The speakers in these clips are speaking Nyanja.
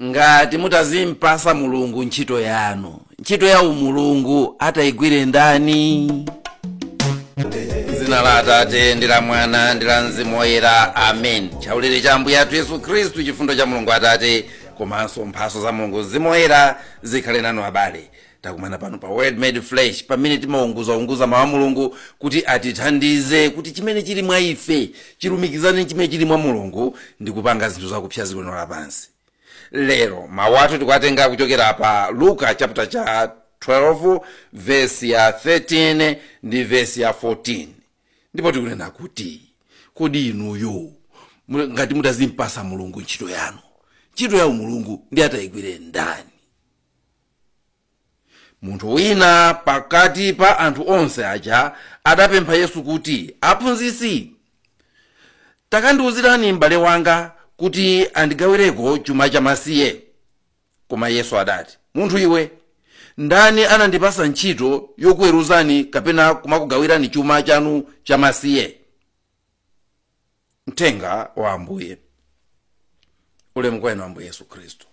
ngati mutazimpasa mulungu ntchito yanu ntchito ya umulungu atayigwire ndani dzina la atate ndi la mwana ndi la mzimu woyera amen chaulere cha ambuye athu yesu khristu chifundo cha mulungu atate komanso mphaso za mulungu mzimu woyera zikhale nanu abale takumana pano pa word made flesh pamene timaunguzaunguza mawu a mulungu kuti atithandize kuti chimene chili mwa ife chilumikizane ndi chimene chili mwa mulungu ndi kupanga zinthu zakupsa ziko lino lapansi lero mawu athu tikuwatenga kuchokera pa luka chapter cha 12 vesi ya 13 ndi vesi ya 14 ndipo tikunena kuti kodi inuyo ngati mutazimpasa mulungu ntchito yanu ntchito ya umulungu ndi atayigwire ndani munthu wina pakati pa anthu onse aja adapempha yesu kuti aphunzitsi takandiwuzirani m'bale wanga kuti andigawireko chuma chamasiye koma yesu adati munthu iwe ndani anandipasa ntchito yokuweruzani kapena kumakugawirani chuma chanu chamasiye mthenga wa ambuye ulemu kwa inu ambuye yesu khristu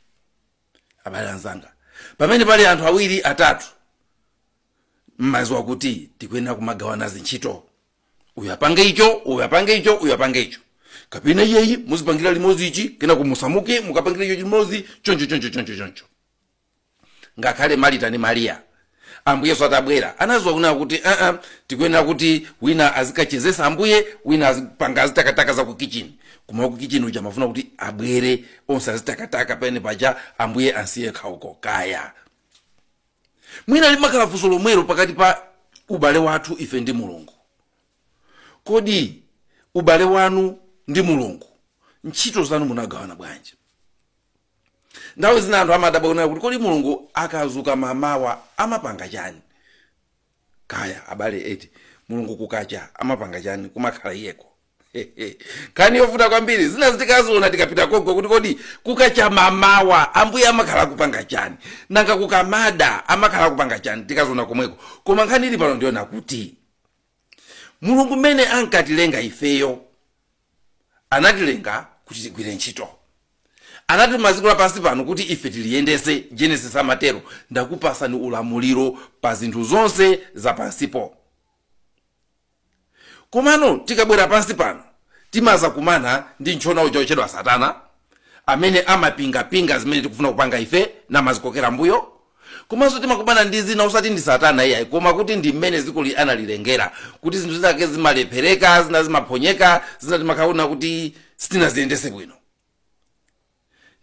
abale anzanga pamene pali anthu awiri atatu mmaziwa kuti tikuyenera kumagawana zintchito uyu apange icho uyu apange icho uyu apange icho kapena iyeyi muzipangira limodzi ichi kena kumusamuka mukapangira icho limodzi choncho choncho choncho choncho ngakhale marita ndi mariya ambuye yesu atabwera anaziwa kunena kuti aa tikuyenera kuti wina azikachezesa ambuye wina azipanga azitakataka za ku kichini koma ku kichini uja amafuna kuti abwere onse azitakataka pene paja ambuye ansiye khauko kaya mwina limakhala funso lomwelo pakati pa ubale wathu ife ndi mulungu kodi ubale wanu ndi mulungu ntchito zanu munagawana bwanji nthawi zina anthu amadabwa kunena kuti kodi mulungu akazuka mamawa amapanga chani kaya abale eti mulungu kukacha amapanga chani kumakhala iyeko nkhani yovuta kwambiri zina zitikaziona tikapita konko kuti kodi kukacha mamawa ambuye amakhala kupanga chani nanga kukamada amakhala kupanga chani tikaziona komweko koma nkhani ili pano ndi yonena kuti mulungu mmene ankatilenga ifeyo anatilenga kuti tigwire ntchito anatituma dziko lapansi pano kuti ife tiliyendese genesis amatero ndakupasani ulamuliro pa zinthu zonse zapansipo komano tikabwera pansi pano timazakumana ndi ntchona uja ochedwa satana amene amapingapinga zimene tikufuna kupanga ife namazikokera mbuyo komanso timakumana ndi zina osati ndi satana iyayi koma kuti ndi mmene dzikoli analilengera kuti zinthu zinake zimalephereka zina zimaphonyeka zina timakaona kuti sitinaziyendese bwino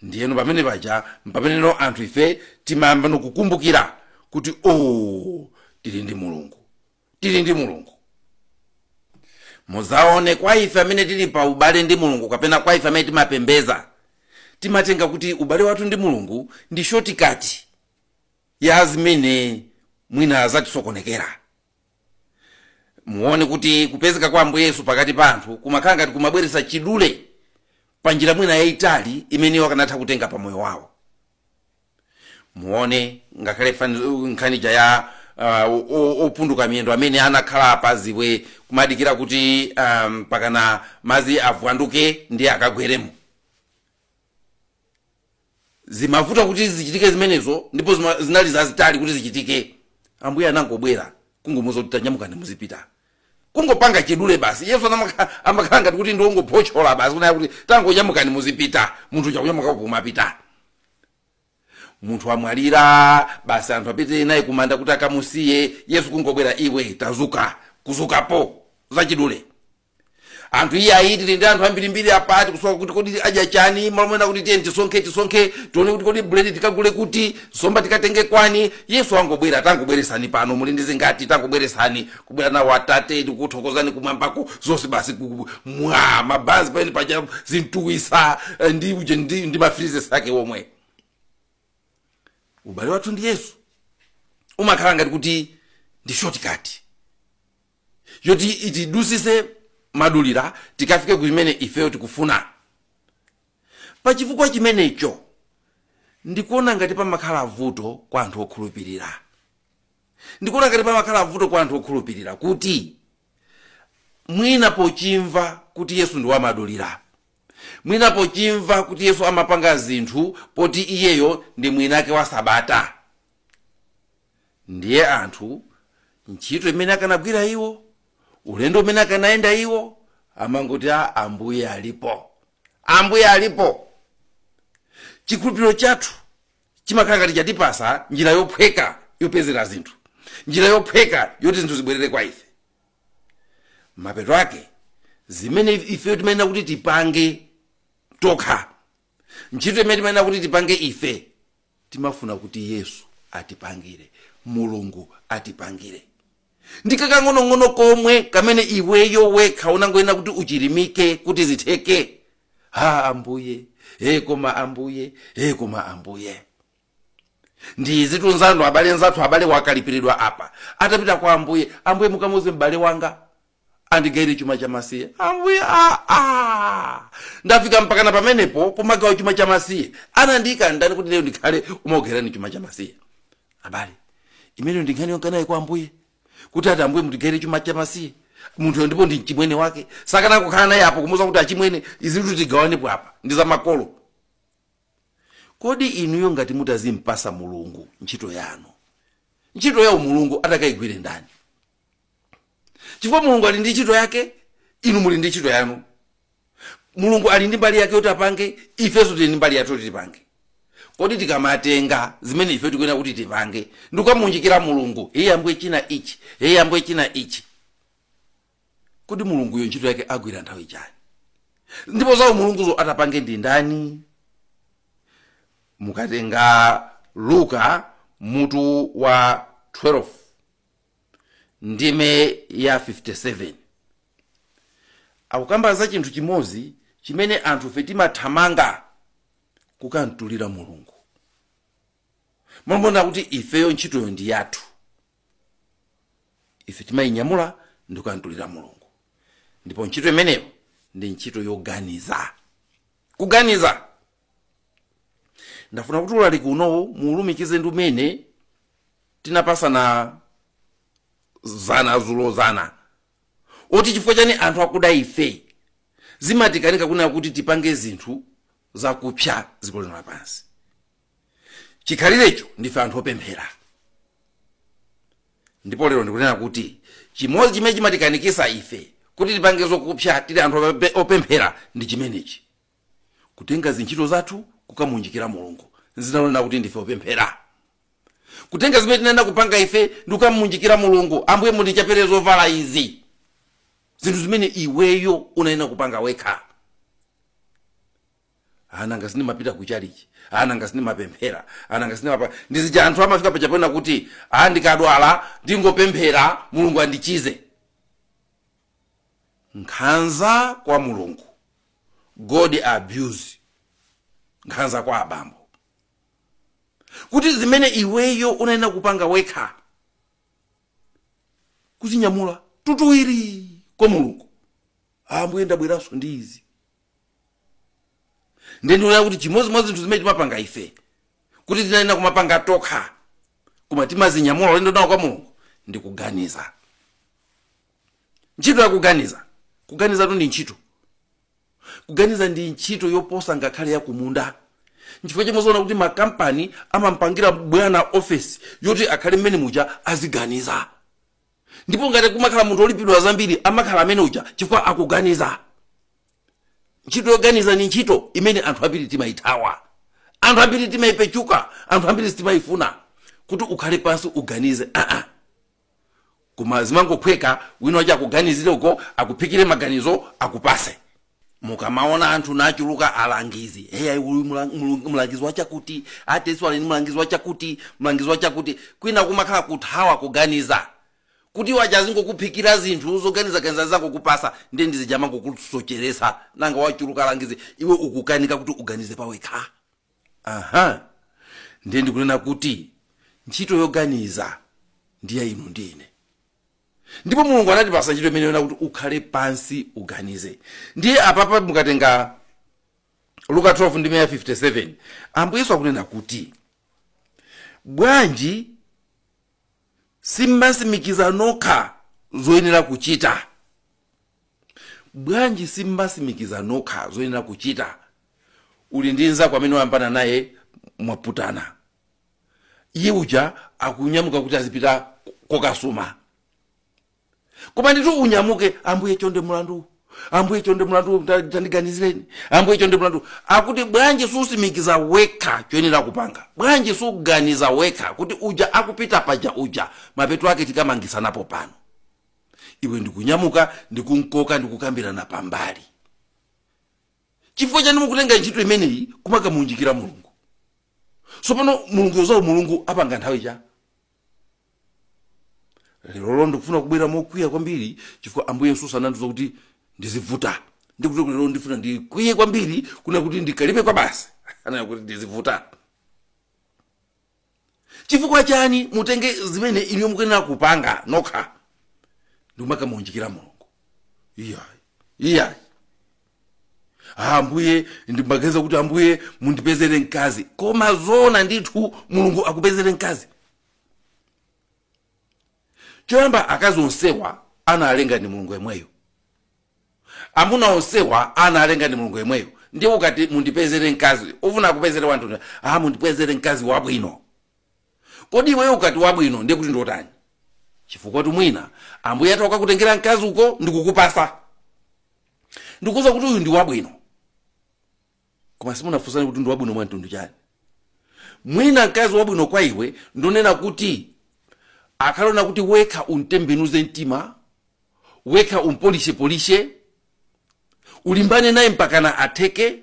ndiyeno pamene paja mpameneno anthu ife timayambano kukumbukira kuti o tili ndi mulungu tili ndi mulungu muzaone kwa ife amene tili pa ubale ndi mulungu kapena kwa ife amene timapembeza timatenga kuti ubale wathu ndi mulungu ndi shotikati ya zimene mwina zatisokonekera muone kuti kupezeka kwa ambuye yesu pakati pa anthu kumakhala ngati kumabweretsa chidule pa njira mwina yayitali imene iwo akanatha kutenga pa moyo wawo muone ngakhale fani- nkhanija ya uh, o- o- opunduka miyendo amene anakhala pa ziwe kumadikira kuti um, pakana mazi avunduke ndiye akagweremo zimavuta kuti zichitike zimenezo ndipo zima- zinali zazitali kuti zichitike ambuye anangobwera kungomuza kuti tanyamukani muzipita kungopanga chidule basi Yesu amaka- amakhala ngati kuti ndi wongophotchola basi kunena kuti tangonyamukani muzipita munthu chakunyamuka kumapita munthu amwalira basi anthu apite naye kumanda kuti akamusiye yesu kungobwera iwe tazuka kuzukapo zachidule anthu iye ayi tili ndi anthu ambirimbiri apa tikusowa kuti kodi adya chani malo monena kuti tiyeni tisonkhe tisonkhe tione kuti kodi buledi tikagule kuti somba tikatenge kwani yesu angobwera tangobweresani pano muli ndi zingati tangobweresani kubwera nawo atate tikuthokozani kumwambako zonse basi ku- mwa mabanzi pamene paja zi twisa eh, ndi uje ndi, ndi mafrizes ake omwe ubale wathu ndi yesu umakhala ngati kuti ndi shortcut yoti itidusise madulira tikafike ku chimene ifeyo tikufuna pa chifukwa chimenecho ndikuona ngati pamakhala vuto kwa anthu okhulupirira ndikuona ngati pamakhala vuto kwa anthu okhulupirira kuti mwina pochimva kuti yesu ndi wamadulira mwina pochimva kuti yesu amapanga zinthu poti iyeyo ndi mwinake wa sabata ndiye anthu ntchito imene akanagwira iwo ulendo umene akanayenda iwo amangoti a ambuye alipo ambuye alipo chikhulupiriro chathu chimakhala ngati chatipasa njira yophweka yopezera zinthu njira yophweka yoti zinthu zibwerere kwa ife mapeto ake zimene ifeyo timayenera kuti tipange tokha ntchito imene timayenera kuti tipange ife timafuna kuti yesu atipangire mulungu atipangire ndi kakang'onong'ono komwe kamene iweyo wekha unangoyenera kuti uchilimike kuti zitheke ha ambuye e koma ambuye e koma ambuye ndi zithu izi ndithu abale nzathu abale wakalipiridwa apa atapita kwa ambuye ambuye mukamuze m'bale wanga andigaire chuma cha masiye ambuye ah, ah. ndafika mpakana pamenepo kumagawa chuma cha masiye anandiyika ndani kuti lero ndikhale umaogerani chuma cha masiye abale imeneyo ndi nkhani yonkanayi kwa ambuye kuti ati ambuye mutigaire chuma cha masiye munthuyo ndipo ndi mchimwene wake sakanatha kukhala naye apo kumuza kuti achimwene izi zinthu tigawanepo apa ndi za makolo Kodi inuyo ngati mutazimpasa Mulungu ntchito yanu, ntchito ya umulungu atakaigwire ndani? Chifukwa Mulungu ali ndi ntchito yake, inu muli ndi ntchito yanu. Mulungu ali ndi mbali yake yoti apange, ifenso tili ndi mbali yathu yoti tipange. Kodi tikamatenga zimene ife tikuyenera kuti tipange ndikukamuunjikira Mulungu, iye ambuye china ichi, iye ambuye china ichi, kodi mulunguyo ntchito yake agwira nthawi chani ndipo za umulunguzo atapange ndi ndani mukatenga luka mutu wa 12 ndime ya 57 akukamba za chinthu chimodzi chimene anthufe timathamanga kukamtulira mulungu mmalo mmoona kuti ifeyo ntchitoyo ndi yathu ife timayinyamula ndi kukantulira mulungu ndipo ntchito imeneyo ndi ntchito yoganiza kuganiza ndafuna kuti ulaliki unowu muulumikize ndi umene tinapasana zana zulo zana oti chifukwa chani anthu akuda ife zimatikanika kunena kuti tipange zinthu zakupsa dziko lino lapansi chikhalirecho ndife anthu opemphera ndipo lero ndikunena kuti chimodzi chimene chimatikanikisa ife kuti tipange zokupsa tili anthu ope- opemphera ndi chimenechi kutenga zintchito zathu kukamunjikira mulungu dzina lonena kuti ndife opemphera kutenga zimene tinayenera kupanga ife ndi kukamuunjikira mulungu ambuye mundichapere zovala izi zinthu zimene iweyo unayenera kupanga wekha Ah, nanga sindimapita ku chalichi Ah, nanga sindimapemphera Ah, nanga sindimapa ndizija anthu amafika paja pena kuti ah, ndikadwala ndingopemphera mulungu andichize nkhanza kwa mulungu god abuse nkhanza kwa abambo kuti zimene iweyo unayenera kupanga wekha kuzinyamula tutuwiri kwa mulungu ambuye ndabweranso ndi izi ndiye ndiona kuti chimodzi mwa zinthu zimene timapanga ife kuti tinayenera kumapanga tokha koma timazinyamula ulendo nawo kwa mulungu ndi kuganiza ntchito ya kuganiza kuganizatu ndi ntchito kuganiza ndi ntchito yoposa ngakhale ya kumunda nchifukwa chake mumaona kuti makampani amampangira bwana ofesi yoti akhale mmene muja aziganiza ndipo ngati kumakhala munthu olipidwa zambiri amakhala amene uja chifukwa akuganiza ntchito yoganiza ni ntchito imene anthu ambiri timayithawa anthu ambiri timayipechuka anthu ambiri sitimayifuna kuti ukhale pansi uganize aa koma zimangophweka wina wake akuganizire uko akuphikire maganizo akupase mukamaona anthu achuluka alangizi heya uyu mula- mulu- mlangizi wachakuti ateso ali ni mlangizi wachakuti mlangizi wachakuti kwina kumakhala kuthawa kuganiza kuti aja azingokuphikira zinthu zoganizaganiza azikupasa ndiye ndi zija amangokusocheresa nanga wachuluka alangizi iwe ukukanika kuti uganize pawekha aha ndiye ndikunena kuti ntchito yoganiza ndiye inu ndine ndipo mulungu anatipasa ntchito imeneyo kuti ukhale pansi uganize ndiye apapa mukatenga luka 12 ndime ya 57 ambuye yesu akunena kuti bwanji simmasimikiza nokha zoyenera kuchita bwanji simmasimikiza nokha zoyenera kuchita uli ndi nzako amene wayambana naye mwaputana iye uja akunyamuka kuti azipita kokasuma koma nditu unyamuke ambuye chonde mulandu ambuye chonde mulandu ta- tandiganizireni ambuye chonde mulandu akuti bwanji susimikiza wekha choyenera kupanga bwanji suganiza wekha kuti uja akupita paja uja mapeto ake tikamangisanapo pano iwe ndikunyamuka ndikumukoka ndikukambirana pambali chifukwa chani mukutenga ntchito imeneyi kumakamuunjikira mulungu so pano mulungu yozawo mulungu apanga nthawi ya lerolo ndikufuna kubwera mokwiya kwambiri chifukwa ambuye yesu anandiuza kuti ndizivuta ndikuti lero ndifuna ndikwiye kwambiri kunena kuti ndikalipe kwabasi ananena kuti ndizivuta chifukwa chani mutenge zimene inuyo mukuyenera kupanga nokha ndikumakamuunjikira mulungu iyayi iyayi Ah, ambuye ndimaganiza kuti ambuye mundipezere mkazi koma zoona ndithu mulungu akupezere mkazi choyamba akazi onsewa analenga ndi mulungu yemweyo amuna onsewa analenga ndi mulungu yemweyo ndiye ukati mundipezere mkazi ufuna akupezere wantu ah mundipezere mkazi wabwino kodi iweyo ukati wabwino ndiye kuti ndiotani chifukwatu mwina ambuye atakakutengera mkazi uko ndikukupasa ndikuuza kuti uyu ndi wabwino koma simunafunsane kuti ndi wabwino mwa mtundu wanji mwina mkazi wabwino kwa iwe ndonena kuti akaona kuti wekha umtembenuze mtima wekha umpolishepolishe ulimbane naye mpakana atheke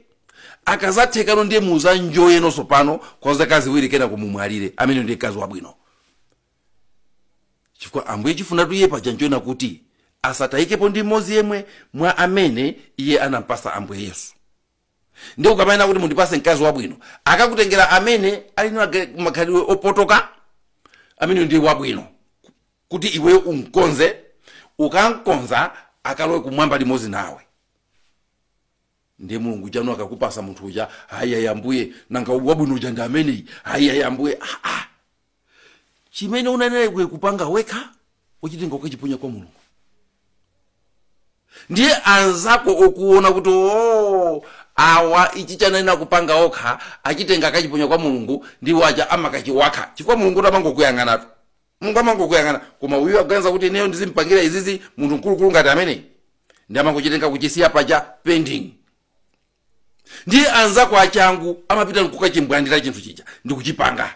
akazathekano ndiye muzanjoye nonse pano kwa zaka ziwiri kenaka mumwalire amene ndiye mkazi wabwino chifukwa ambuye chifunatu iye paja nchonena kuti asatayikepo ndi mmodzi yemwe mwa amene iye anampasa ambuye yesu ndiye ukamanena kuti mundipase mkazi wabwino akakutengera amene ali na ge- makhalidwe opotoka amene ndiye wabwino kuti iwe umkonze ukamkonza akalowe kumwamba limodzi nawe ndiye mulungu tsano akakupasa munthu uja ayayi ambuye nanga wabwino uja ndi ameneyi ayayi ambuye ah, ah. chimene unayenera iwe kupanga wekha uchitenga ukachiponya kwa mulungu ndiye anzako okuona kuti o awa ichi chayenera kupanga okha achitenga akachiponya kwa mulungu ndiwo aja amakachiwakha chifukwa mulungutu amangokuyang'anatu mulungu amangokuyang'ana koma uyu akuganiza kuti ineyo ndizimpangira izizi munthu mkulukulu ngati ameneyu ndiye amangochitenga kuchisiya paja pending ndiye anzako achangu amapita nkukachimbwandira chinthu chija ndikuchipanga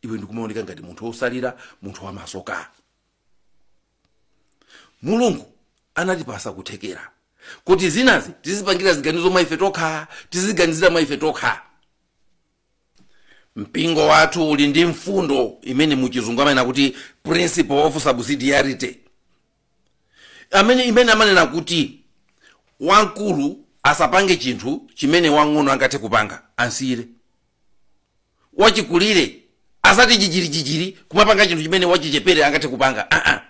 iwe ndikumaoneka ngati munthu wotsalira munthu wamasoka mulungu anatipasa kuthekera kuti zinazi tizipanga ziganizo mwa ife tokha tiziganizira mwa ife tokha mpingo wathu uli ndi mfundo imene muchizungu amanena kuti principle of subsidiarity amene imene amanena kuti wamkulu asapange chinthu chimene wang'ono angathe kupanga amsiyire wachikulire asati jijirijijiri kumapanga chinthu chimene wachichepere angathe kupanga aa uh -uh.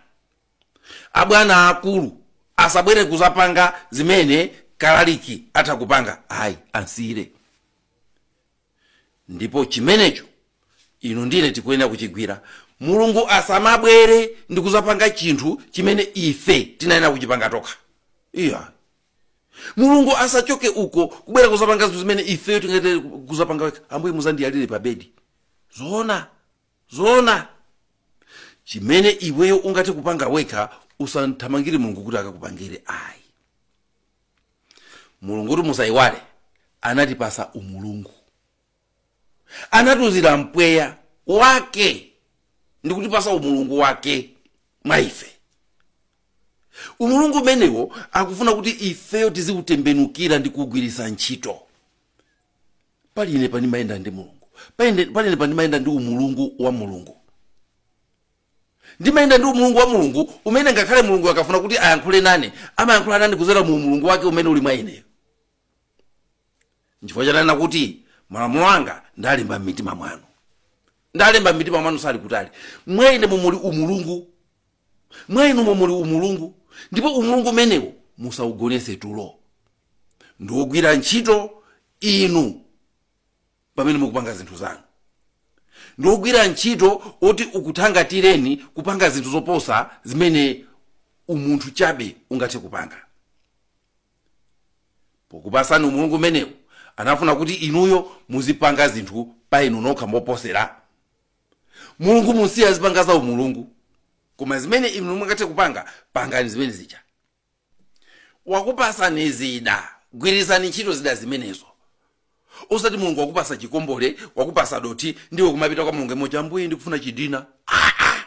abwana aakulu asabwere kuzapanga zimene kalaliki atha kupanga ayi amsiyire ndipo chimenecho inu ndine tikuyenera kuchigwira mulungu asamabwere ndi kuzapanga chinthu chimene ife tinayenera kuchipanga tokha iya mulungu asachoke uko kubwera kuzapanga zinthu zimene ifeyo tingathe kuzapanga wekha ambuye muzandiyalire pa bedi zoona zoona chimene iweyo ungathe kupanga wekha usathamangire mulungu kuti akakupangire ayi mulungu kuti musayiwale anatipasa umulungu anatiuzira mpweya wake ndi kutipasa umulungu wake mwa ife umulungu umenewo akufuna kuti ifeyo tiziutembenukira ndi kuugwiritsa ntchito pali ine pandimayenda ndi mulungu pali ine pandimayenda ndi umulungu wa mulungu Ndimayenda ndi Umulungu wa Mulungu, umene ngakhale Mulungu akafuna kuti ayankhule nane, amayankhula nane kudzera mu Umulungu wake umene uli mwa ineyo. Nchifukwa ananena kuti malamulo anga ndalemba m'mitima mwanu. Ndalemba m'mitima mwanu sali kutali. Mwa ine mumuli Umulungu. Mwa inu mumuli Umulungu. Ndipo Umulungu umenewo musaugonetse tulo. Ndi wogwira ntchito inu. pamene mukupanga zinthu zanu ndi ogwira ntchito oti ukuthangatireni kupanga zinthu zoposa zimene umunthu chabe ungathe kupanga pokupasani umulungu umenewu anafuna kuti inuyo muzipanga zinthu pa inu nokha moposera mulungu musiye azipanga za umulungu koma zimene inu mungathe kupanga pangani zimene zija wakupasani zida gwirizani ntchito zida zimenezo osati mulungu wakupasa chikombole wakupasa dothi ndiwe kumapita kwa mulungu emoja ambuye ndikufuna chidina Ah, ah.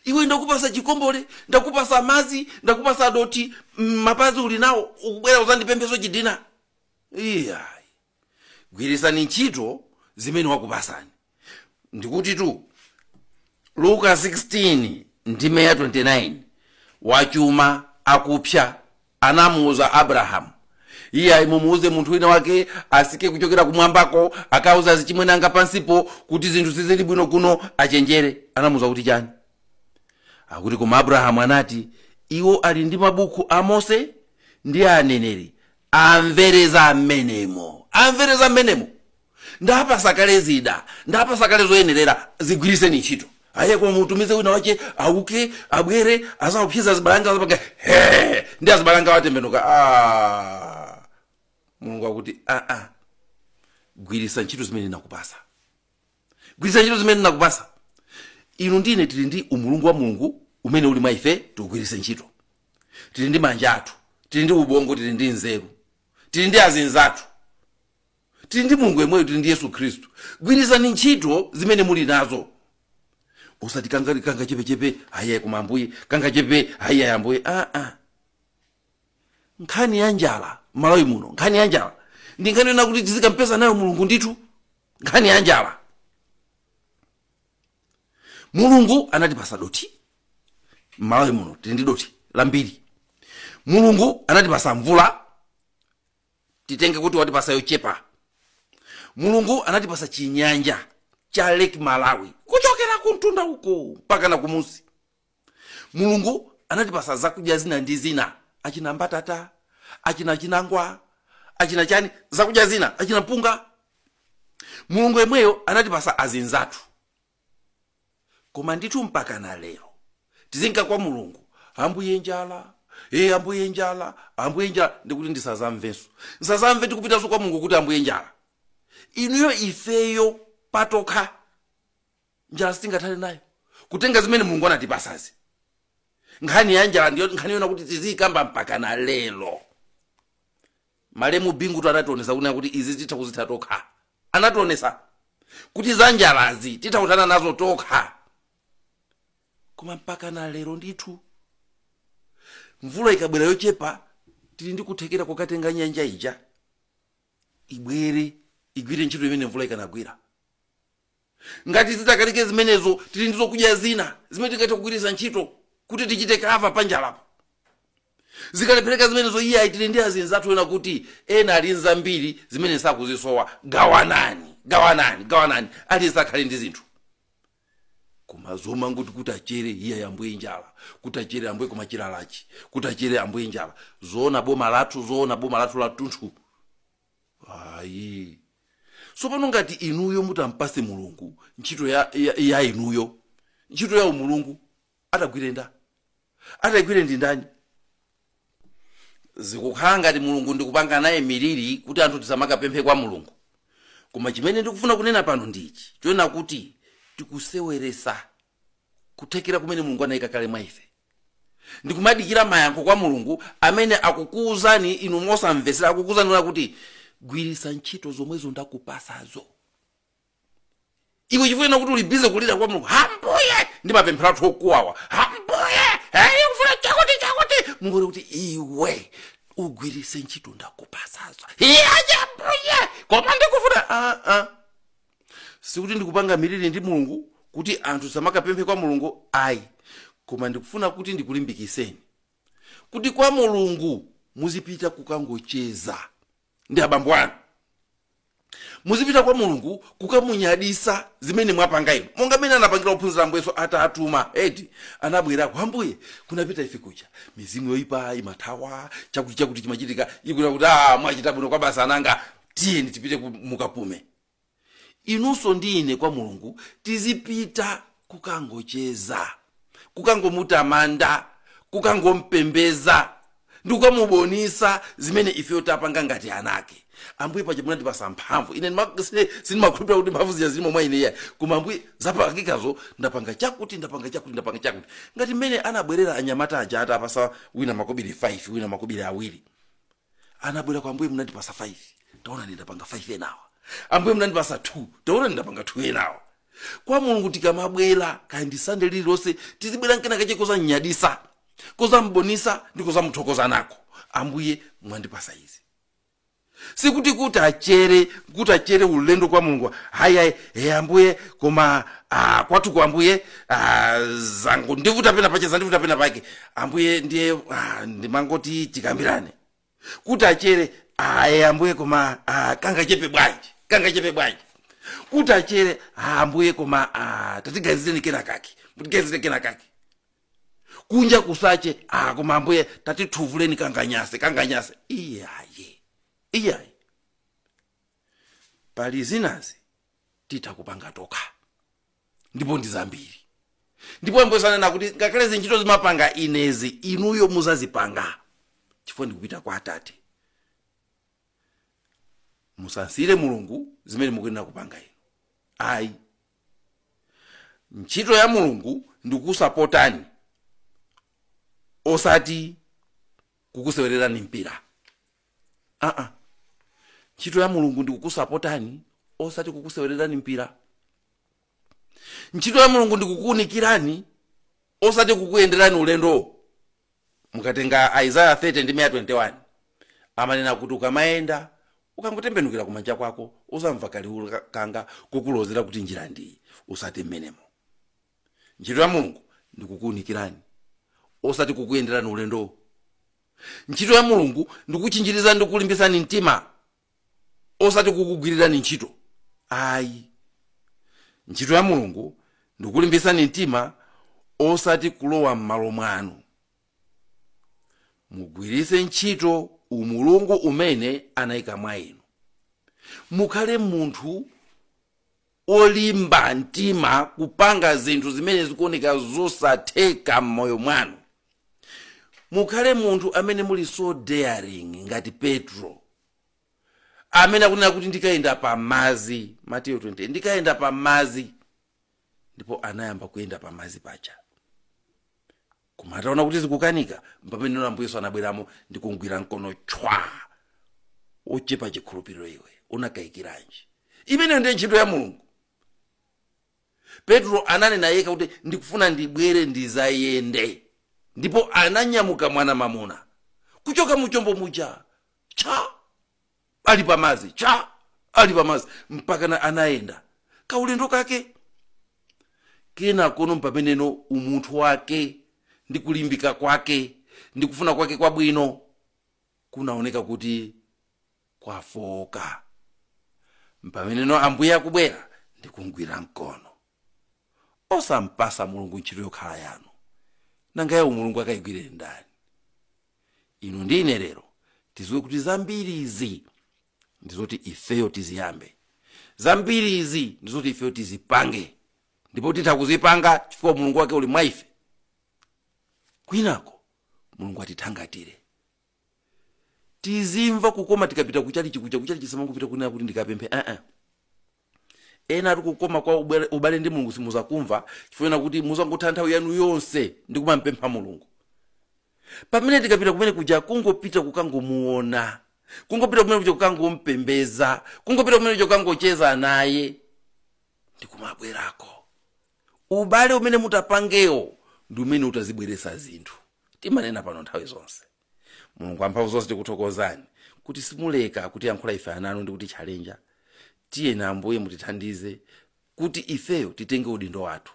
iwe ndakupasa chikombole ndakupasa madzi ndakupasa dothi mm, mapazi uli nawo ukubwera uzandipempheso chidina iya gwiritsani ntchito zimene wakupasani ndikutitu luka 16 ndime ya 29 wachuma akupsa anamuuza abrahamu iye ayi muwuze munthu wina wake atsike kuchokera kumwambako akauze azichimwene anga pansipo kuti zinthu sizili bwino kuno achenjere anamuuza kuti chani akuti koma abrahamu anati iwo ali ndi mabuku a mose ndi a aneneri amvere za mmenemo amvere za mmenemo ndawapasa kale zida ndawapasa kale zoyenerera zigwiriseni ntchito ayi koma mutumize wina wache auke abwere azaopseza azibale anga azapanga he ndi azibale anga atembenuka ah. mulungu akuti aa ah, ah. gwirisa ntchito zimene ndinakupasa gwiritsa ntchito zimene ndinakupasa inu ndi ine tili ndi umulungu wa mulungu umene uli mwa ife tiugwiritse ntchito tili ndi manja athu tili ndi ubongo tili ndi nzeru tili ndi azinzathu tili ndi mulungu yemweyo tili ndi yesu khristu gwiritsani ntchito zimene muli nazo usati kanga kanga chepechepe ayi koma ambuye kanga chepe ayi ayi ambuye aa ah, ah. nkhani ya njala malawi muno nkhani ya njala ndi nkhani yonena kuti tizikampesa nayo mulungu ndithu nkhani ya njala mulungu anatipasa doti malawi muno tili ndi doti lambiri mulungu anatipasa mvula titenge kuti watipasa yochepa mulungu anatipasa chinyanja cha lake malawi kuchokera kumtunda uko mpaka na kumusi mulungu anatipasa zakudya zina ndi zina achina mbatata achina chinangwa achina chani zakudya zina achina mpunga mulungu yemweyo anatipasa azinzathu koma ndithu mpaka na lero tizinka kwa mulungu ambuye njala e ambuye njala ambuye njala ndikuti ndisazamvenso ndisazamve tikupitanso kwa mulungu kuti ambuye njala inuyo ifeyo patokha njala sitingathane nayo kutenga zimene mulungu anatipasazi nkhani ya njala ndiyo nkhani yona kuti tiziyikamba mpaka na lero malemu bingutu anationesa kunena kuti izi titha kuzitha tokha anationesa kuti za njalazi titha kuthana nazo tokha koma mpaka na lero ndithu mvula ikabwera yochepa tili ndi kuthekera kokatenga nyanja ija ibwere igwire ntchito imene mvula ikanagwira ngati zitakanike zimenezo tili ndi zokudya zina zimene tingathe kugwiritsa ntchito kuti tichite cover panjalapo zikalephereka zimenezo iyayi tili ndi azinzathu ena kuti ena ali nzambiri zimene sakuzisowa gawanani gawanani gawanani aliyense akhale ndi zinthu koma zomangoti kuti achere iye ambuye njala kuti achere ambuye koma chilalachi kuti achere ambuye njala zoona boma lathu zoona boma lathu latunthu ayi sopano ngati inuyo mutampase mulungu ntchito ya, ya, ya inuyo ntchito ya umulungu atagwire nda atagwire ndi ndani zikukhala ngati mulungu ndikupangana naye malire kuti anthu tisamakapemphe kwa mulungu koma chimene ndikufuna kunena pano ndi ichi chonena kuti tikuseweresa kuthekera kumene mulungu anayika kale mwa ife ndikumadikira mayankho kwa mulungu amene akukuwuzani inu mosamvetsera akukuwuzani kunena kuti gwiritsa ntchito zomwezo ndakupasazo iwe chifukwa kuti uli busy kulira kwa mulungu ambuye ndi mapemphero athu okuwawa ambuye eyi kufuna chakuti chakuti mulungu ali kuti iwe ugwiritse ntchito ndakupasazo iye ambuye koma ndikufuna aa sikuti ndikupanga malire ndi mulungu kuti anthu samakapemphe kwa mulungu ayi koma ndikufuna kuti ndikulimbikiseni kuti kwa mulungu muzipita kukangocheza ndi abambo anu muzipita kwa mulungu kukamunyadisa zimene mwapanga inu monga mmene anapangira ophunzira ambuye yesu atatuma eti anabwera kwa ambuye kunapita ife kuja mizimu yoyipa imathawa chakuti chakuti chimachitika iye kuti a mwachita bwino kwabasi ana anga tiyeni tipite ku- mukapume inunso ndi ine kwa mulungu tizipita kukangocheza kukangomutamanda kukangompembeza ndikukamubonisa zimene ifeyo tapanga ngati anake ambuye paja munandipasa mphamvu ine ndima- sine- sindimakhulupirira kuti mphamvu zija zilimo mwa ineyi koma ambuye zapangikazo ndapanga chakuti ndapanga chakuti ndapanga chakuti ngati mmene anabwerera anyamata aja atapasa wina makobiri 5 wina makobiri awiri anabwera kwa ambuye munandipasa 5 taona ndapanga 5 enawa ambuye munandipasa 2 taona ndapanga 2 enawa kwa mulungu tikamabwera kaya ndi sande lililonse tizibwera nkena kake kozamnyadisa kozambonisa ndi kozamuthokoza nako ambuye mwandipasa izi sikuti kuti kuchere kuti kuchere ulendo kwa mulungu haya e ambuye koma ah, kwathu kwa ambuye ah, zandivuta pena pake zandivuta pena pake ambuye ndiye ah, ndimangoti tikambirane kuti kuchere aye ambuye koma ah, kangachepe bwanji kangachepe bwanji kuti kuchere ah, ambuye koma ah, tatiganizireni kena kake mutiganizire kena kake kunja kusache ah, koma ambuye tatituvuleni kanganyase kanganyase iyayi iyayi pali zinazi zoti titha kupanga tokha ndipo ndi zambiri ndipo ambuye ananena kuti ngakhale zintchito zimapanga inezi inuyo muzazipanga chifukwa ndikupita kwa atate musamsiire mulungu zimene mukuyenera kupanga inu ayi ntchito ya mulungu ndikusapotani osati kukusewererani mpira aa ntchito ya mulungu ndi kukusapotani osati kukusewererani mpira ntchito ya mulungu ndi kukuunikirani osati kukuyenderani ulendo mukatenga isaiah 30 ndime 21 amanena kuti ukamayenda ukangotembenukira kumanja kwako uzamva kaliwu ka- kanga kukulozera kuti njira ndi iyi usate mmenemo ntchito ya mulungu ndi kukuunikirani osati kukuyenderani ulendo ntchito ya mulungu ndikuchinjiriza ndi kukulimbitsani mtima osati kukugwirirani ntchito ayi ntchito ya mulungu ndikulimbitsani mtima osati kulowa m'malo mwanu mugwiritse ntchito umulungu umene anayika mwa inu mukhale munthu olimba mtima kupanga zinthu zimene zikuoneka zosatheka m'moyo mwanu mukhale munthu amene muli so daring ngati petro amene akunena kuti ndikayenda pa mazi mateyo 20 ndikayenda pa mazi ndipo anayamba kuyenda pa mazi paja koma ataona kuti zikukanika mpamene ambuye yesu anabweramo ndi kumgwira mkono tchwa ochepa chikhulupiriro iwe unakayikiranji imeneyo ndiye ntchito ya mulungu petro ananena yekha kuti ndikufuna ndibwere ndizayende ndipo ananyamuka mwana mamuna kuchoka muchombo muja cha ali pamazi cha ali pamazi mpaka anayenda kaulendo kake kenakono mpameneno umunthu wake ndi kulimbika kwake ndi kufuna kwake kwabwino kunaoneka kuti kwafooka mpameneno ambuye akubwera ndi kumgwira mkono osampatsa mulungu ntchito yokhala yanu nanga ya umulungu akayigwire ndani inu ndi ine lero tiziwe kuti zambiri izi ndizoti ifeyo tiziyambe zambiri izi ndizoti ifeyo tizipange ndipo titha kuzipanga chifukwa mulungu wake uli mwa ife kwinako mulungu atithangatire tizimva kukoma tikapita kuchalichi kuja kuchalichi samangopita kunena kuti ndikapemphe aa ena ati kukoma kwa ubale- ubale ndi mulungu simuzakumva chifukwa kuti muzangotha nthawi yanu yonse ndi kumampempha mulungu pamene tikapita kumene kuja kungopita kukangomuona kungopita kumene kuja kukangompembeza kungopita kumene kuja kukangocheza naye ndikumabwerako ubale umene mutapangewo ndi umene utazibweretsa zinthu timanena pano nthawi zonse mulungu amphamvu zonse tikuthokozani kuti simuleka kutiyankhula ife ananu ndi kutichalenja tiyeni ambuye mutithandize kuti ifeyo titenge udindo wathu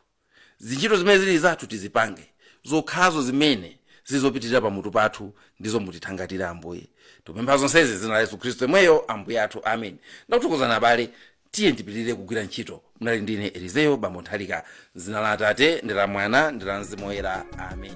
zintchito zimene zili zathu tizipange zokhazo zimene zili zopitirira pamutu pathu ndizo mutithangatire ambuye tikupempha zonsezi m'dzina la yesu khristu yemweyo ambuye athu amen ndakuthokozani abale Tiyeni tipitirire kugwira ntchito. Munali ndine Elizeyo Bambo Nthalika, m'dzina la Atate ndi la Mwana ndi la Mzimu Woyera. Amen.